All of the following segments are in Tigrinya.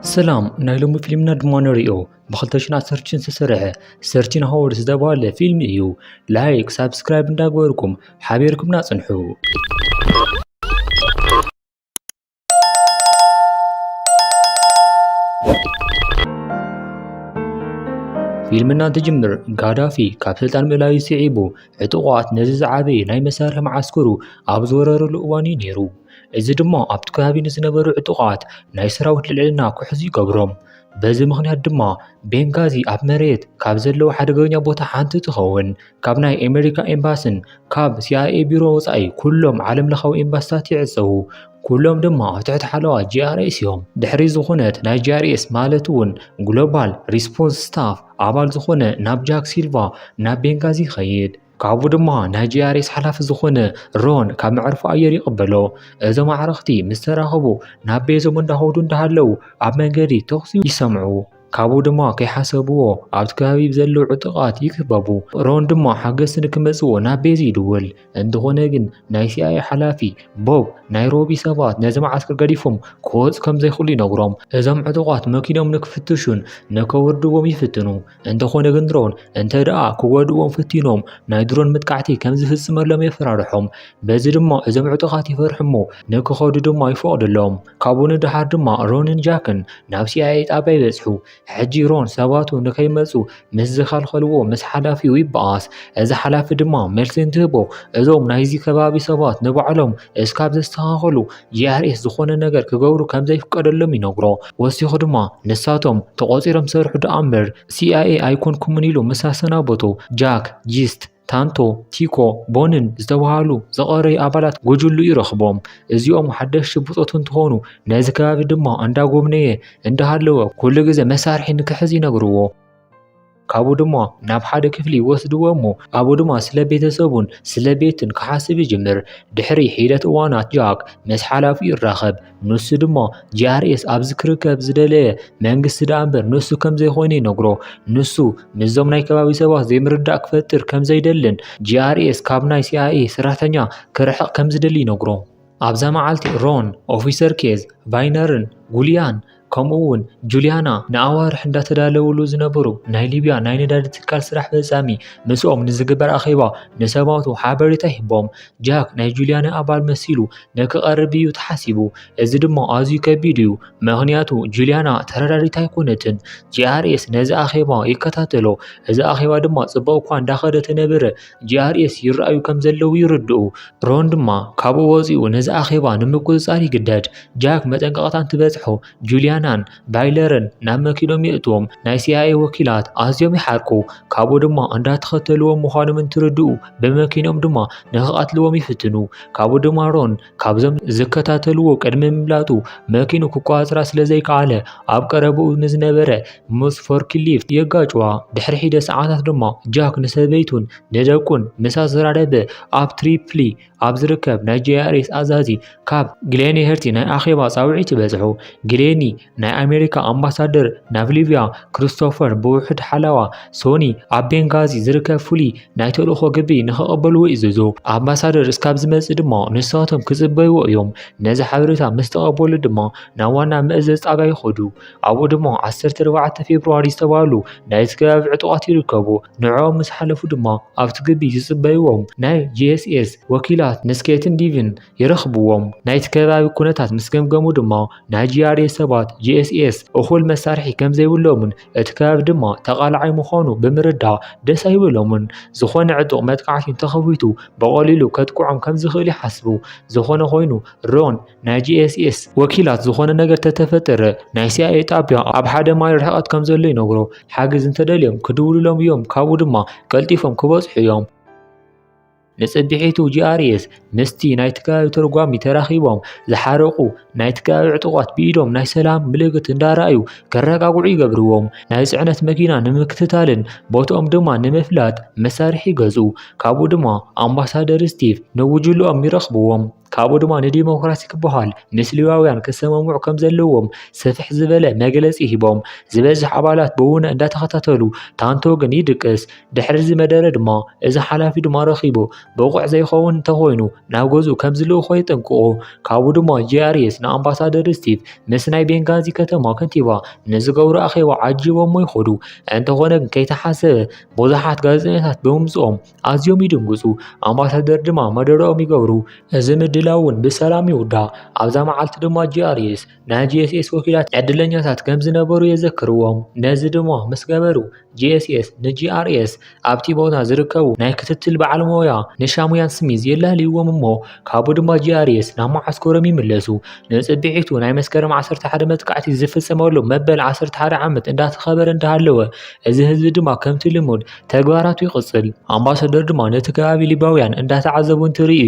ሰላም ናይ ሎሚ ፊልምና ድማ ንሪኦ ብ2016 ዝተሰርሐ ሰርቲን ሃወርድ ዝተባህለ ፊልም እዩ ላይክ ሳብስክራይብ እንዳገበርኩም ሓቢርኩምና ፅንሑ ፊልም እናትጅምር ጋዳፊ ካብ ስልጣን ምእላዩ ስዒቡ ዕጡቓት ነዚ ዝዓበየ ናይ መሳርሒ መዓስከሩ ኣብ ዝወረረሉ እዋን እዩ ነይሩ። እዚ ድማ ኣብቲ ከባቢ ንዝነበሩ ዕጡቓት ናይ ሰራዊት ልዕልና ክሕዙ ይገብሮም። በዚ ምኽንያት ድማ ቤንጋዚ ኣብ መሬት ካብ ዘለዉ ሓደገኛ ቦታ ሓንቲ ትኸውን። ካብ ናይ ኣሜሪካ ኤምባስን ካብ ሲኣይኤ ቢሮ ወፃኢ ኩሎም ዓለም ለኻዊ ኤምባስታት ይዕፀዉ። ኩሎም ድማ ኣብ ትሕቲ ሓለዋ ጂኣርኤስ እዮም። ድሕሪ ዝኾነት ናይ ጂኣርኤስ ማለት እውን ግሎባል ሪስፖንስ ስታፍ ኣባል ዝኾነ ናብ ጃክ ሲልቫ ናብ ቤንጋዚ ይኸይድ። ካብኡ ድማ ናይ ጂኣርኤስ ሓላፊ ዝኾነ ሮን ካብ መዕርፎ ኣየር ይቕበሎ። እዞም ኣዕርኽቲ ምስ ተራኸቡ ናብ ቤዞም እንዳኸዱ እንዳሃለዉ ኣብ መንገዲ ተኹሲ ይሰምዑ። ካብኡ ድማ ከይሓሰብዎ ኣብቲ ከባቢ ብዘለዉ ዕጡቓት ይክበቡ። ሮን ድማ ሓገዝቲ ንክመጽዎ ናብ ቤዚ ይድውል። እንተኾነ ግን ናይ ሲኣይኤ ሓላፊ ቦብ ናይሮቢ ሰባት ነዚ መዓስከር ገዲፎም ክወጹ ከም ዘይክእሉ ይነግሮም። እዞም ዕጡቓት መኪኖም ንክፍትሹን ንከውርድዎም ይፍትኑ። እንተኾነ ግን ሮን እንተድኣ ክጎድእዎም ፈቲኖም ናይ ድሮን መጥቃዕቲ ከም ዝፍጽመሎም የፈራርሖም። በዚ ድማ እዞም ዕጡቓት ይፈርሑ እሞ ንክኸዱ ድማ ይፈቕደሎም። ካብኡ ንደሓር ድማ ሮንን ጃክን ናብ ሲኣይኤ ጣብያ ይበጽሑ። ሕጂ ሮን ሰባቱ ንከይመጹ ምስ ዝኸልኸልዎ ምስ ሓላፊኡ ይበኣስ። እዚ ሓላፊ ድማ መልሲ እንትህቦ እዞም ናይዚ ከባቢ ሰባት ንባዕሎም እስካብ ዘስተኻኸሉ ጂኣርኤስ ዝኾነ ነገር ክገብሩ ከም ዘይፍቀደሎም ይነግሮ። ወሲኹ ድማ ንሳቶም ተቖጺሮም ዝሰርሑ ደኣምበር ሲኣይኤ ኣይኮንኩምን ኢሉ ምስ ኣሰናበቶ ጃክ ጂስት ታንቶ፣ ቲኮ፣ ቦንን ዝተብሃሉ ዝቐረዩ ኣባላት ጉጅሉ ይረኽቦም። እዚኦም ሓደሽቲ ብጾቱ እንትኾኑ ነዚ ከባቢ ድማ እንዳጎብነየ እንዳሃለወ ኩሉ ግዘ መሳርሒ ንክሕዝ ይነግርዎ። ካብኡ ድማ ናብ ሓደ ክፍሊ ይወስድዎ እሞ ኣብኡ ድማ ስለ ቤተሰቡን ስለ ቤቱን ክሓስብ ይጅምር። ድሕሪ ሒደት እዋናት ጃክ ምስ ሓላፊኡ ይራኸብ። ንሱ ድማ ጂኣርኤስ ኣብዚ ክርከብ ዝደለየ መንግስቲ ደኣ እምበር ንሱ ከም ዘይኮይኑ ይነግሮ። ንሱ ምስዞም ናይ ከባቢ ሰባት ዘይምርዳእ ክፈጥር ከም ዘይደልን ጂኣርኤስ ካብ ናይ ሲኣይኤ ሰራሕተኛ ክርሕቕ ከም ዝደሊ ይነግሮ። ኣብዛ መዓልቲ ሮን፣ ኦፊሰር ኬዝ፣ ቫይነርን ጉልያን ከምኡ እውን ጁልያና ንኣዋርሕ እንዳተዳለውሉ ዝነበሩ ናይ ሊብያ ናይ ነዳዲ ትካል ስራሕ ፈጻሚ ምስኦም ንዝግበር ኣኼባ ንሰባቱ ሓበሬታ ሂቦም። ጃክ ናይ ጁልያና ኣባል መሲሉ ንክቐርብ እዩ ተሓሲቡ። እዚ ድማ ኣዝዩ ከቢድ እዩ፣ ምኽንያቱ ጁልያና ተረዳዲት ኣይኮነትን። ጂኣርኤስ ነዚ ኣኼባ ይከታተሎ፣ እዚ ኣኼባ ድማ ጽቡቕ እኳ እንዳኸደ ተነበረ፣ GRS ይረኣዩ ከም ዘለዉ ይርድኡ። ሮን ድማ ካብኡ ወጺኡ ነዚ ኣኼባ ንምቁጽጻር ይግደድ። ጃክ መጠንቀቕታ እንትበጽሖ ጁልያናን ባይለርን ናብ መኪኖም የእትዎም። ናይ ሲኣይኤ ወኪላት ኣዝዮም ይሓርቁ፣ ካብኡ ድማ እንዳተኸተልዎም ምዃኖም እንትርድኡ ብመኪኖም ድማ ንኽቐትልዎም ይፍትኑ። ካብኡ ድማ ሮን ካብዞም ዝከታተልዎ ቅድሚ ምምላጡ መኪኑ ክቆፃፀራ ስለዘይከኣለ ኣብ ቀረብኡ ንዝነበረ ምስ ፎርክሊፍት የጋጭዋ። ድሕሪ ሒደ ሰዓታት ድማ ጃክ ንሰበይቱን ንደቁን ምስ ኣዘራረበ ኣብ ትሪፕሊ ኣብ ዝርከብ ናይ ጂኣርኤስ ኣዛዚ ካብ ግሌንሄርቲ ናይ ኣኼባ ጻውዒት በጽሑ። ግሌኒ ናይ ኣሜሪካ ኣምባሳደር ናብ ሊብያ ክሪስቶፈር ብውሑድ ሓላዋ ሶኒ ኣብ ቤንጋዚ ዝርከብ ፍሉይ ናይ ተልእኾ ግቢ ንክቐበልዎ ይዘዞ። ኣምባሳደር እስካብ ዝመጽእ ድማ ንሳቶም ክጽበይዎ እዮም። ነዚ ሓበሬታ ምስ ተቐበሉ ድማ ናብ ዋና መእዘዝ ጣብያ ይኸዱ። ኣብኡ ድማ 14 ፌብርዋሪ ዝተባህሉ ናይቲ ከባቢ ዕጡቓት ይርከቡ። ንዕኦም ምስ ሓለፉ ድማ ኣብቲ ግቢ ይጽበይዎም። ናይ ጂኤስኤስ ወኪላት ንስኬትን ዲቪን ይረኽብዎም። ናይቲ ከባቢ ኩነታት ምስ ገምገሙ ድማ ናይ ጂኣርኤ ሰባት ጂኤስኤስ እኹል መሳርሒ ከም ዘይብሎምን እቲ ከባቢ ድማ ተቓላዓይ ምዃኑ ብምርዳእ ደስ ኣይበሎምን። ዝኾነ ዕጡቕ መጥቃዕቲ እንተኸፊቱ ብቐሊሉ ከጥቅዖም ከም ዝኽእል ይሓስቡ። ዝኾነ ኮይኑ ሮን ናይ ጂኤስኤስ ወኪላት ዝኾነ ነገር ተተፈጠረ ናይ ሲኣይኤ ጣቢያ ኣብ ሓደ ማይል ርሕቐት ከም ዘሎ ይነግሮ። ሓገዝ እንተደልዮም ክድውሉሎም እዮም ካብኡ ድማ ቀልጢፎም ክበጽሑ እዮም። ንጽብሒቱ ጂኣርኤስ ምስቲ ናይቲ ከባቢ ተርጓሚ ተራኺቦም ዝሓረቑ ናይቲ ከባቢ ዕጡቓት ብኢዶም ናይ ሰላም ምልክት እንዳረኣዩ ከረጋግዑ ይገብርዎም። ናይ ጽዕነት መኪና ንምክትታልን ቦትኦም ድማ ንምፍላጥ መሳርሒ ይገዝኡ። ካብኡ ድማ ኣምባሳደር ስቲቭ ንጉጅለኦም ይረኽብዎም። ካብኡ ድማ ንዲሞክራሲ ክበሃል ምስ ሌዋውያን ክሰማምዑ ከም ዘለዎም ሰፍሕ ዝበለ መግለጺ ሂቦም ዝበዝሕ ኣባላት ብውነ እንዳተኸታተሉ ታንቶ ግን ይድቅስ ድሕሪ እዚ መደረ ድማ እዚ ሓላፊ ድማ ረኺቡ ብቑዕ ዘይኸውን እንተኾይኑ ናብ ገዝኡ ከም ዝልእኾ የጠንቅቑ ካብኡ ድማ ጂኣርኤስ ንኣምባሳደር ስቲቭ ምስ ናይ ቤንጋዚ ከተማ ከንቲባ ንዝገብሩ ኣኼባ ዓጂቦሞ ይኸዱ እንተኾነ ግን ከይተሓሰበ ብዙሓት ጋዜጠኛታት ብምምጽኦም ኣዝዮም ይድንግጹ፣ ኣምባሳደር ድማ መደረኦም ይገብሩ። እዚ ምድላው እውን ብሰላም ይውዳእ። ኣብዛ መዓልቲ ድማ GRS ናይ GSS ወኪላት ዕድለኛታት ከም ዝነበሩ የዘክርዎም። ነዚ ድማ ምስ ገበሩ፣ GSS ንGRS ኣብቲ ቦታ ዝርከቡ ናይ ክትትል በዓል ሞያ ንሻሙያን ስሚዝ የላልይዎም እሞ ካብኡ ድማ GRS ናብ መዓስከሮም ይምለሱ። ንጽብሒቱ ናይ መስከረም 11 መጥቃዕቲ ዝፍጸመሉ መበል 11 ዓመት እንዳተኸበረ እንዳሃለወ፣ እዚ ህዝቢ ድማ ከምቲ ልሙድ ተግባራቱ ይቕጽል። ኣምባሳደር ድማ ነቲ ከባቢ ሊባውያን እንዳተዓዘቡ እንትርኢ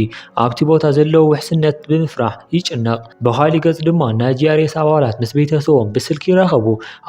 ኣብቲ ቦታ ዘለዎ ውሕስነት ብምፍራሕ ይጭነቕ። ብኻሊእ ገጽ ድማ ናይ ጂኣርኤስ ኣባላት ምስ ቤተሰቦም ብስልኪ ይራኸቡ።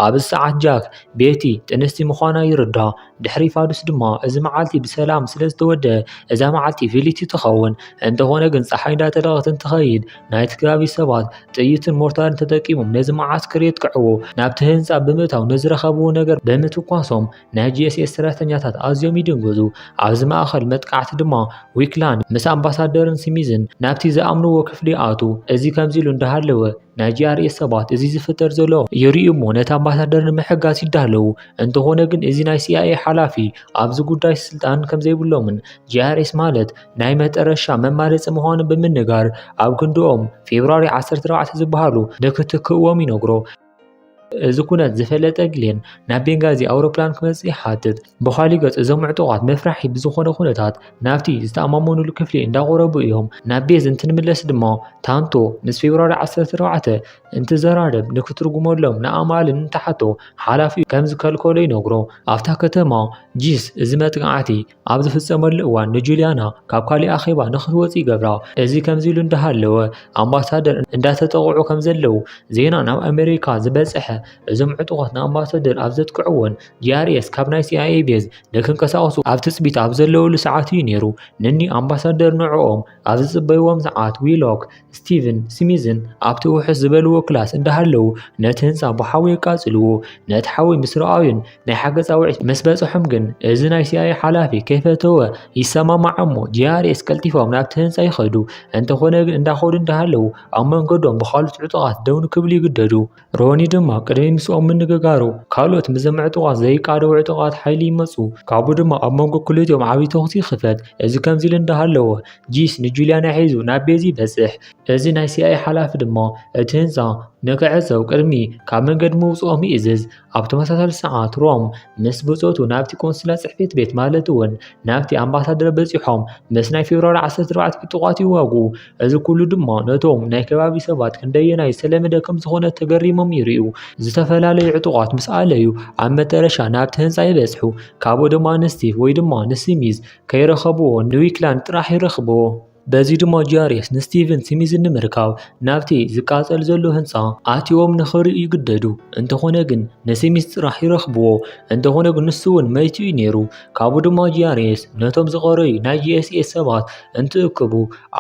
ኣብዚ ሰዓት ጃክ፣ ቤቲ፣ ጥንስቲ ምዃና ይርዳእ። ድሕሪ ፋዱስ ድማ እዚ መዓልቲ ብሰላም ስለ ዝተወድኣ እዛ መዓልቲ ፍልይቲ ትኸውን። እንተኾነ ግን ጸሓይ እንዳጠለቐት እንትኸይድ ናይቲ ከባቢ ሰባት ጥይትን ሞርታርን ተጠቂሞም ነዚ መዓስከር የጥቅዕዎ። ናብቲ ህንጻ ብምእታው ንዝረኸብዎ ነገር ብምትኳሶም ናይ ጂኤስኤስ ሰራሕተኛታት ኣዝዮም ይድንግዙ። ኣብዚ ማእከል መጥቃዕቲ ድማ ዊክላንድ ምስ ኣምባሳደርን ስሚዝን ናብቲ ዝኣምንዎ ክፍሊ ይኣትዉ። እዚ ከምዚ ኢሉ እንዳሃለወ ናይ ጂኣርኤስ ሰባት እዚ ዝፍጠር ዘሎ ይርእዩ እሞ ነቲ ኣምባሳደር ንምሕጋዝ ይዳለዉ። እንተኾነ ግን እዚ ናይ ሲኣይኤ ሓላፊ ኣብዚ ጉዳይ ስልጣን ከምዘይብሎምን ጂኣርኤስ ማለት ናይ መጠረሻ መማረፂ ምዃኑ ብምንጋር ኣብ ክንድኦም ፌብርዋሪ 14 ዝበሃሉ ንክትክእዎም ይነግሮ። እዚ ኩነት ዝፈለጠ ግሌን ናብ ቤንጋዚ ኣውሮፕላን ክመጽእ ይሓትት። ብኻሊ ገጽ እዞም ዕጡቓት መፍራሒ ብዝኾነ ኩነታት ናብቲ ዝተኣማመኑሉ ክፍሊ እንዳቆረቡ እዮም። ናብ ቤዝ እንትንምለስ ድማ ታንቶ ምስ ፌብራሪ 14 እንትዘራረብ ንክትርጉመሎም ንኣማል እንትሓቶ ሓላፊኡ ከም ዝከልከሎ ይነግሮ። ኣብታ ከተማ ጂስ እዚ መጥቃዕቲ ኣብ ዝፍጸመሉ እዋን ንጁልያና ካብ ካሊእ ኣኼባ ንክትወጽ ይገብራ። እዚ ከምዚ ኢሉ እንዳሃለወ ኣምባሳደር እንዳተጠቕዑ ከም ዘለዉ ዜና ናብ ኣመሪካ ዝበጸሐ እዞም ዕጡቓት ንኣምባሳደር ኣብ ዘጥቅዕዎን ጂኣርኤስ ካብ ናይ ሲኣይኤ ቤዝ ንክንቀሳቐሱ ኣብ ትጽቢት ኣብ ዘለዉሉ ሰዓት እዩ ነይሩ። ንኒ ኣምባሳደር ንዕኦም ኣብ ዝጽበይዎም ሰዓት ዊሎክ ስቲቭን ስሚዝን ኣብቲ ውሑስ ዝበልዎ ክላስ እንዳሃለዉ ነቲ ህንፃ ብሓዊ የቃፅልዎ ነቲ ሓዊ ምስ ረኣዩን ናይ ሓገዝ ፃውዒት ምስ በፅሖም ግን እዚ ናይ ሲኣይ ሓላፊ ከይፈተወ ይሰማማዕ እሞ ጂኣርኤስ ቀልጢፎም ናብቲ ህንፃ ይኸዱ እንተኾነ ግን እንዳኸዱ እንዳሃለዉ ኣብ መንገዶም ብካልኦት ዕጡቓት ደው ንክብሉ ይግደዱ ሮኒ ድማ ቅድሚ ምስኦም ምንግጋሩ ካልኦት ምስዞም ዕጡቓት ዘይቃደው ዕጡቓት ሓይሊ ይመፁ ካብኡ ድማ ኣብ መንጎ ክልቲኦም ዓብዪ ተኹሲ ይኽፈት እዚ ከምዚ ኢሉ እንዳሃለወ ጂስ ንጁልያና ሒዙ ናብ ቤዚ ይበፅሕ እዚ ናይ ሲኣይ ሓላፊ ድማ እቲ ህንፃ ንክዕፀው ቅድሚ ካብ መንገዲ ምውፅኦም ይእዝዝ ኣብ ተመሳሳሊ ሰዓት ሮም ምስ ብፆቱ ናብቲ ቆንስላ ፅሕፈት ቤት ማለት እውን ናብቲ ኣምባሳደር በፂሖም ምስ ናይ ፌብርዋሪ 14 ዕጡቓት ይዋግኡ እዚ ኩሉ ድማ ነቶም ናይ ከባቢ ሰባት ክንደየናይ ዝተለመደ ከም ዝኾነ ተገሪሞም ይርእዩ። ዝተፈላለዩ ዕጡቓት ምስ ኣለዩ ኣብ መጠረሻ ናብቲ ህንፃ ይበጽሑ። ካብኡ ድማ ንስቲቭ ወይ ድማ ንስሚዝ ከይረኸብዎ ንዊክላንድ ጥራሕ ይረኽብዎ። በዚ ድማ ጂኣርኤስ ንስቲቭን ስሚዝን ንምርካብ ናብቲ ዝቃጸል ዘሎ ህንፃ ኣትዮም ንኽርእዩ ይግደዱ። እንተኾነ ግን ንስሚዝ ጥራሕ ይረኽብዎ። እንተኾነ ግን ንሱ እውን መይቱ እዩ ነይሩ። ካብኡ ድማ ጂኣርኤስ ነቶም ዝቐረዩ ናይ ጂኤስኤስ ሰባት እንትእከቡ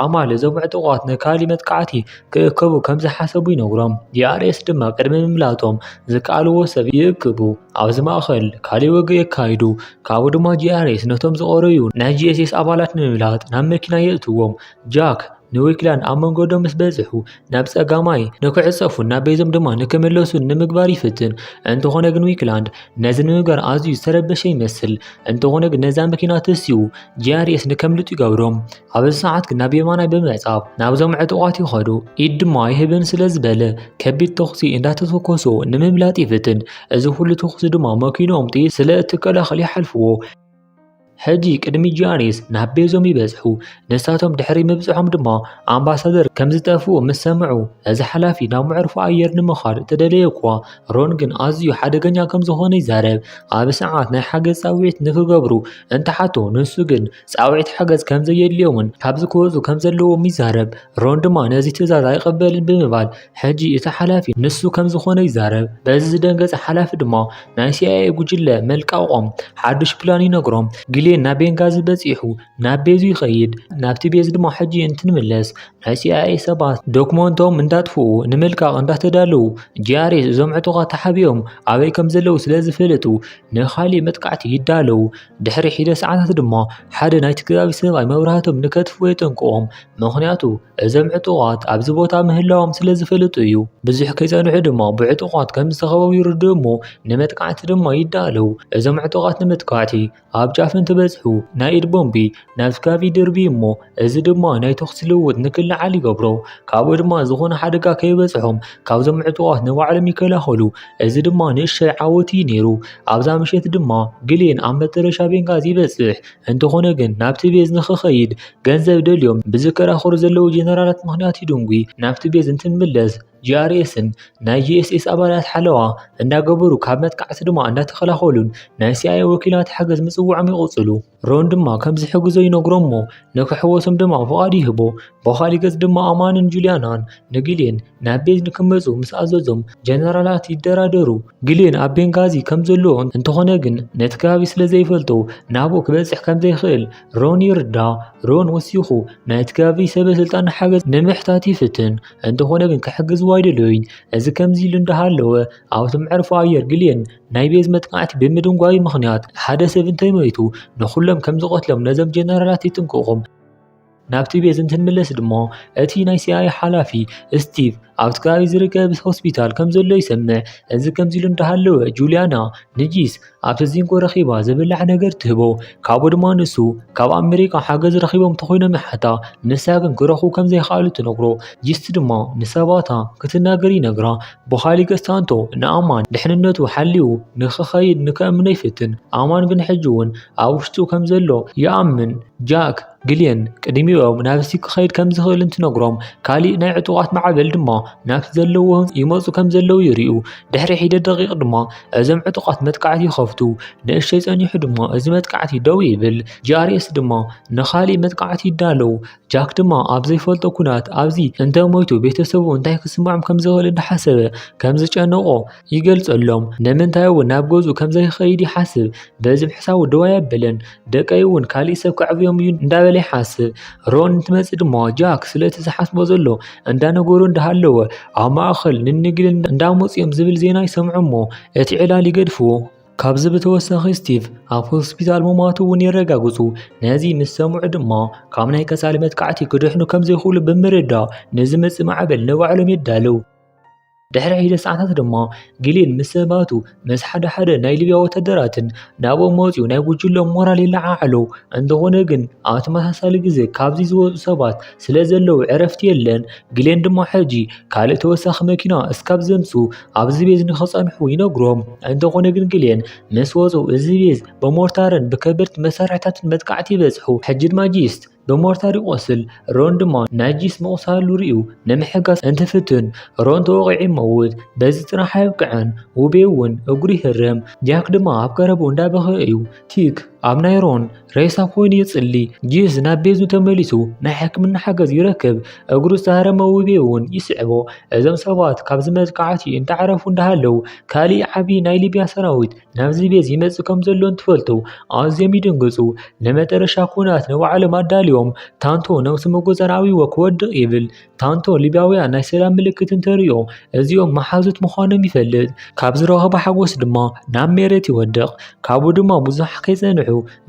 ኣማል እዞም ዕጡቓት ንካሊ መጥቃዕቲ ክእከቡ ከም ዝሓሰቡ ይነግሮም። ዲኣርኤስ ድማ ቅድሚ ምምላጦም ዝከኣልዎ ሰብ ይእክቡ። ኣብዚ ማእከል ካሊ ወግኢ የካይዱ፣ ካብኡ ድማ ዲኣርኤስ ነቶም ዝቐረዩ ናይ ጂኤስኤስ ኣባላት ንምምላጥ ናብ መኪና የእትዎም። ጃክ ንዊክላን ኣብ መንገዶም ምስ በጽሑ ናብ ጸጋማይ ንክዕጸፉን ናብ ቤዞም ድማ ንክምለሱን ንምግባር ይፍትን። እንተኾነ ግን ዊክላንድ ነዚ ንምግባር ኣዝዩ ዝተረበሸ ይመስል። እንተኾነ ግን ነዛ መኪና ተሲኡ ጂኣርኤስ ንከምልጡ ይገብሮም። ኣብዚ ሰዓት ግን ናብ የማናይ ብምዕጻብ ናብዞም ዕጡቓት ይኸዱ። ኢድ ድማ ይህብን ስለ ዝበለ ከቢድ ተኹሲ እንዳተተኮሶ ንምምላጥ ይፍትን። እዚ ኩሉ ተኹሲ ድማ መኪኖኦም ጥይት ስለ እትከላኸል ይሓልፍዎ። ሕጂ ቅድሚ ጂያኔስ ናብ ቤዞም ይበጽሑ። ንሳቶም ድሕሪ ምብጽሖም ድማ ኣምባሳደር ከም ዝጠፍኡ ምስ ሰምዑ እዚ ሓላፊ ናብ መዕርፎ ኣየር ንምኻድ እተደለየ እኳ ሮን ግን ኣዝዩ ሓደገኛ ከም ዝኾነ ይዛረብ። ኣብ ሰዓት ናይ ሓገዝ ጻውዒት ንክገብሩ እንተሓቶ ንሱ ግን ጻውዒት ሓገዝ ከም ዘየድልዮምን ካብዚ ክወጹ ከም ዘለዎም ይዛረብ። ሮን ድማ ነዚ ትእዛዝ ኣይቕበልን ብምባል ሕጂ እቲ ሓላፊ ንሱ ከም ዝኾነ ይዛረብ። በዚ ዝደንገጸ ሓላፊ ድማ ናይ ሲኣይኤ ጉጅለ መልቃቖም ሓዱሽ ፕላን ይነግሮም። ግሌን ናብ ቤንጋዚ በጺሑ ናብ ቤዙ ይኸይድ። ናብቲ ቤዝ ድማ ሕጂ እንትንምለስ ናይ ሲኣይኤ ሰባት ዶክመንቶም እንዳጥፍኡ ንምልቃቕ እንዳተዳለዉ ጂኣርኤስ እዞም ዕጡቓት ተሓቢኦም ኣበይ ከም ዘለዉ ስለ ዝፈልጡ ንኻልእ መጥቃዕቲ ይዳለዉ። ድሕሪ ሒደት ሰዓታት ድማ ሓደ ናይቲ ከባቢ ሰብኣይ መብራህቶም ንከትፍዎ የጠንቅቖም፣ ምኽንያቱ እዞም ዕጡቓት ኣብዚ ቦታ ምህላዎም ስለ ዝፈልጡ እዩ። ብዙሕ ከይጸንሑ ድማ ብዕጡቓት ከም ዝተኸበቡ ይርድኡ እሞ ንመጥቃዕቲ ድማ ይዳለዉ። እዞም ዕጡቓት ንምጥቃዕቲ ኣብ ጫፍ እንትበጽሑ ናይ ኢድ ቦምቢ ናብ ስጋብ ይድርቢ እሞ እዚ ድማ ናይ ተኹሲ ልውውጥ ንክለዓል ይገብሮ። ካብኡ ድማ ዝኾነ ሓደጋ ከይበፅሖም ካብዞም ዕጡቓት ንባዕሎም ይከላኸሉ። እዚ ድማ ንእሽተይ ዓወት እዩ ነይሩ። ኣብዛ ምሸት ድማ ግሌን ኣብ መጠረሻ ቤንጋዚ ይበፅሕ። እንተኾነ ግን ናብቲ ቤዝ ንክኸይድ ገንዘብ ደልዮም ብዝከራኸሩ ዘለዉ ጀነራላት ምኽንያት ይድንጒ። ናብቲ ቤዝ እንትንምለስ ጂኣርኤስን ናይ ጂኤስኤስ ኣባላት ሓለዋ እንዳገበሩ ካብ መጥቃዕቲ ድማ እንዳተኸላኸሉን ናይ ሲኣይኤ ወኪላት ሓገዝ ምፅውዖም ይቕፅሉ። ሮን ድማ ከም ዝሕግዞ ይነግሮ እሞ ንክሕወሶም ድማ ፍቓድ ይህቦ ብኻሊእ ገጽ ድማ ኣማንን ጁልያናን ንግሌን ናብ ቤት ንክመጹ ምስ ኣዘዞም ጀነራላት ይደራደሩ ግሌን ኣብ ቤንጋዚ ከም ዘሎ እንተኾነ ግን ነቲ ከባቢ ስለ ዘይፈልጦ ናብኡ ክበጽሕ ከም ዘይኽእል ሮን ይርዳ ሮን ወሲኹ ናይቲ ከባቢ ሰበ ስልጣን ሓገዝ ንምሕታት ይፍትን እንተኾነ ግን ክሕግዝዎ ኣይደለዩን እዚ ከምዚ ኢሉ እንዳሃለወ ኣብቲ መዕርፎ ኣየር ግሌን ናይ ቤዝ መጥቃዕቲ ብምድንጓዩ ምኽንያት ሓደ ሰብ እንተይመይቱ ንኹሎም ከም ዝቐትሎም ነዘም ጀነራላት ይጥንቅቑም። ናብቲ ቤዝ እንትንምለስ ድማ እቲ ናይ ሲኣይ ሓላፊ ስቲቭ ኣብቲ ከባቢ ዝርከብ ሆስፒታል ከም ዘሎ ይሰምዕ። እዚ ከምዚ ኢሉ እንዳሃለወ ጁልያና ንጂስ ኣብቲ ዚንጎ ረኺባ ዝብላዕ ነገር ትህቦ። ካብኡ ድማ ንሱ ካብ ኣመሪካ ሓገዝ ረኺቦም ተኾይኖም ይሓታ። ንሳ ግን ክረኽቡ ከም ዘይከኣሉ ትነግሮ። ጂስ ድማ ንሰባታ ክትናገር ይነግራ። ብኻሊ ገስታንቶ ንኣማን ድሕንነቱ ሓልዩ ንክኸይድ ንከእምኖ ይፍትን፣ ኣማን ግን ሕጂ'ውን ኣብ ውሽጡ ከም ዘሎ ይኣምን። ጃክ፣ ግሌን ቅድሚኦም ናብቲ ክኸይድ ከም ዝኽእል እንትነግሮም፣ ካልእ ናይ ዕጡቓት ማዕበል ድማ ናብቲ ዘለዎ ህንጻ ይመጹ ከም ዘለዉ ይርእዩ። ድሕሪ ሒደት ደቒቕ ድማ እዞም ዕጡቓት መጥቃዕቲ ይኸፍቱ። ንእሽተይ ጸኒሑ ድማ እዚ መጥቃዕቲ ደው ይብል። ጂኣርኤስ ድማ ንኻልእ መጥቃዕቲ ይዳለው። ጃክ ድማ ኣብ ዘይፈልጦ ኩናት ኣብዚ እንተ ሞይቱ ቤተሰቡ እንታይ ክስምዖም ከም ዝኽእል እንዳሓሰበ ከም ዝጨነቆ ይገልጸሎም። ንምንታይ እውን ናብ ገዝኡ ከም ዘይኸይድ ይሓስብ። በዚ ምሕሳቡ ደው ኣየበለን። ደቀይ እውን ካሊእ ሰብ ከዕብዮም እዩ እንዳበለ ይሓስብ። ሮን እንትመጽእ ድማ ጃክ ስለቲ ዝሓስቦ ዘሎ እንዳነገሮ እንዳሃለወ ኣብ ማእኸል ንንግዲ እንዳመጹ እዮም ዝብል ዜና ይሰምዑ እሞ እቲ ዕላል ይገድፍዎ። ካብዚ ብተወሳኺ ስቲቭ ኣብ ሆስፒታል ምሟቱ እውን የረጋግጹ። ነዚ ምስ ሰምዑ ድማ ካብ ናይ ቀጻሊ መጥቃዕቲ ክድሕኑ ከም ዘይኽእሉ ብምርዳእ ንዝመጽእ ማዕበል ንባዕሎም የዳልው። ድሕሪ ሒደ ሰዓታት ድማ ጊሊን ምስ ሰባቱ ምስ ሓደ ሓደ ናይ ሊብያ ወተደራትን ናብኦም መጺኡ ናይ ጉጅሎም ሞራል ይለዓዓሉ። እንተኾነ ግን ኣብ ተመሳሳሊ ግዜ ካብዚ ዝወጹ ሰባት ስለዘለዉ ዕረፍቲ የለን። ግሌን ድማ ሕጂ ካልእ ተወሳኺ መኪና እስካብ ዘምጹ ኣብዚ ቤዝ ንኽጸንሑ ይነግሮም። እንተኾነ ግን ግሌን ምስ ወጹ እዚ ቤዝ ብሞርታርን ብከበድቲ መሳርሒታትን መጥቃዕቲ ይበጽሑ። ሕጂ ድማ ጂስ ብሞርታር ይቖስል። ሮን ድማ ናይ ጂስ ምቑሳሉ ርእዩ ንምሕጋዝ እንትፍትን ሮን ተወቒዑ ይመውት። በዚ ጥራሕ ኣየብቅዐን ውቤ እውን እግሩ ይህረም። ጃክ ድማ ኣብ ቀረብኡ እንዳበኸየ እዩ። ቲክ! ኣብ ናይሮን ሬሳ ኮይኑ ይጽሊ፣ ጂዝ ናብ ቤዙ ተመሊሱ ናይ ሕክምና ሓገዝ ይረክብ፣ እግሩ ዝተሃረመ ውቤ እውን ይስዕቦ። እዞም ሰባት ካብዚ መጥቃዕቲ እንተዓረፉ እንዳሃለው ካሊእ ዓቢ ናይ ሊብያ ሰራዊት ናብዚ ቤዝ ይመጽእ ከምዘሎ እንትፈልጡ ኣዝዮም ይድንግጹ። ንመጠረሻ ኩናት ንባዕሎም ኣዳልዮም ታንቶ ነብሱ ምቁጽጻር ኣብይዎ ክወድቕ ይብል። ታንቶ ሊብያውያን ናይ ሰላም ምልክት እንተርእዮ እዚኦም መሓዙት ምዃኖም ይፈልጥ ካብ ዝረኸቦ ሓጎስ ድማ ናብ ሜሬት ይወድቕ ካብኡ ድማ ብዙሕ ከይጸንሑ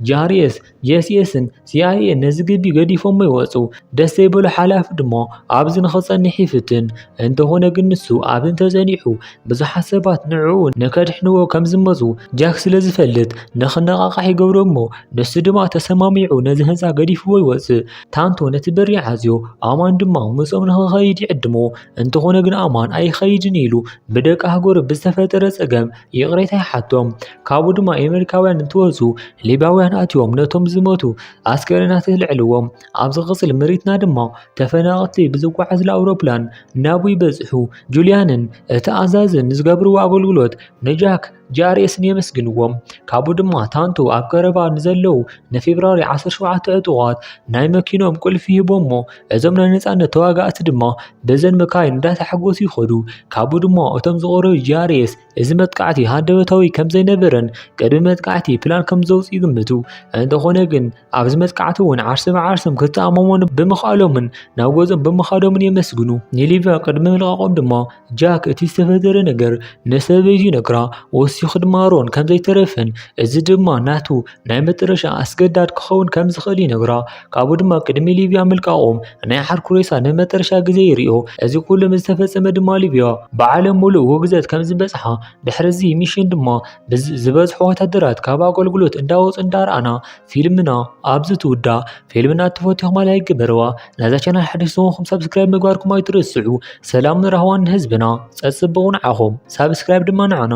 ጃርኤስ ጄስኤስን ሲኣይኤን ነዚ ግቢ ገዲፎሞ ይወጹ ደስ ዘይበሎ ሓላፊ ድማ ኣብዚ ንኽጸንሕ ይፍትን እንተኾነ ግን ንሱ ኣብ እንተጸኒሑ ብዙሓት ሰባት ንዕኡ ንከድሕንዎ ከም ዝመጹ ጃክ ስለ ዝፈልጥ ንኽነቓቓሕ ይገብሮ እሞ ንሱ ድማ ተሰማሚዑ ነዚ ህንፃ ገዲፍዎ ይወጽእ ታንቶ ነቲ በሪ ዓዝዮ ኣማን ድማ ምስኦም ንክኸይድ ይዕድሞ እንተኾነ ግን ኣማን ኣይኸይድን ኢሉ ብደቂ ሃገሩ ብዝተፈጠረ ጸገም ይቕሬታ ይሓቶም ካብኡ ድማ ኣሜሪካውያን እንትወፁ ሊባውያን ኣትዮም ነቶም ዝመቱ ኣስከሬናት ልዕልዎም ኣብ ዝቕፅል ምሪትና ድማ ተፈናቐቲ ብዝጓዓዝሉ ኣውሮፕላን ናብኡ ይበፅሑ ጁልያንን እቲ ኣዛዝን ዝገብርዎ ኣገልግሎት ንጃክ ጂኣርኤስን የመስግንዎም። ካብኡ ድማ ታንቶ ኣብ ቀረባ ንዘለዉ ንፌብራሪ 17 ዕጡቓት ናይ መኪኖም ቁልፊ ሂቦሞ እዞም ናይ ነጻነት ተዋጋእቲ ድማ በዘን መካይን እንዳተሓጎሱ ይኸዱ። ካብኡ ድማ እቶም ዝቐረዩ ጂኣርኤስ እዚ መጥቃዕቲ ሃንደበታዊ ከምዘይነበረን ቅድሚ መጥቃዕቲ ፕላን ከምዘውጽኡ ይግምቱ። እንተኾነ ግን ኣብዚ መጥቃዕቲ እውን ዓርሰ ብዓርሶም ክተኣማመኑ ብምኽኣሎምን ናብ ገዝኦም ብምኻዶምን የመስግኑ። ንሊብያ ቅድሚ ምልቃቖም ድማ ጃክ እቲ ዝተፈጠረ ነገር ንሰበይቱ ይነግራ፣ ወሲኹ ድማ ኣሮን ከም ዘይተረፈን እዚ ድማ ናቱ ናይ መጨረሻ ኣስገዳድ ክኸውን ከም ዝኽእል ይነግራ። ካብኡ ድማ ቅድሚ ሊብያ ምልቃቖም ናይ ዓርኩ ሬሳ ንመጨረሻ ግዜ ይርእዮ። እዚ ኩሉ ምስ ተፈጸመ ድማ ሊብያ ብዓለም ምሉእ ውግዘት ከም ዝበጽሓ፣ ድሕሪ እዚ ሚሽን ድማ ዝበዝሑ ወተሃደራት ካብ ኣገልግሎት እንዳወጹ እንዳረኣና፣ ፊልምና ኣብዚ ትውዳእ ፊልምና እትፈትኹም ላይ ግበርዋ ነዛ ቻናል ሓድሽ ዝኾንኩም ሰብስክራይብ ምግባርኩም ኣይትረስዑ ሰላምን ራህዋን ንህዝብና ፀፅብቑ ንዓኹም ሳብስክራይብ ድማ ንዓና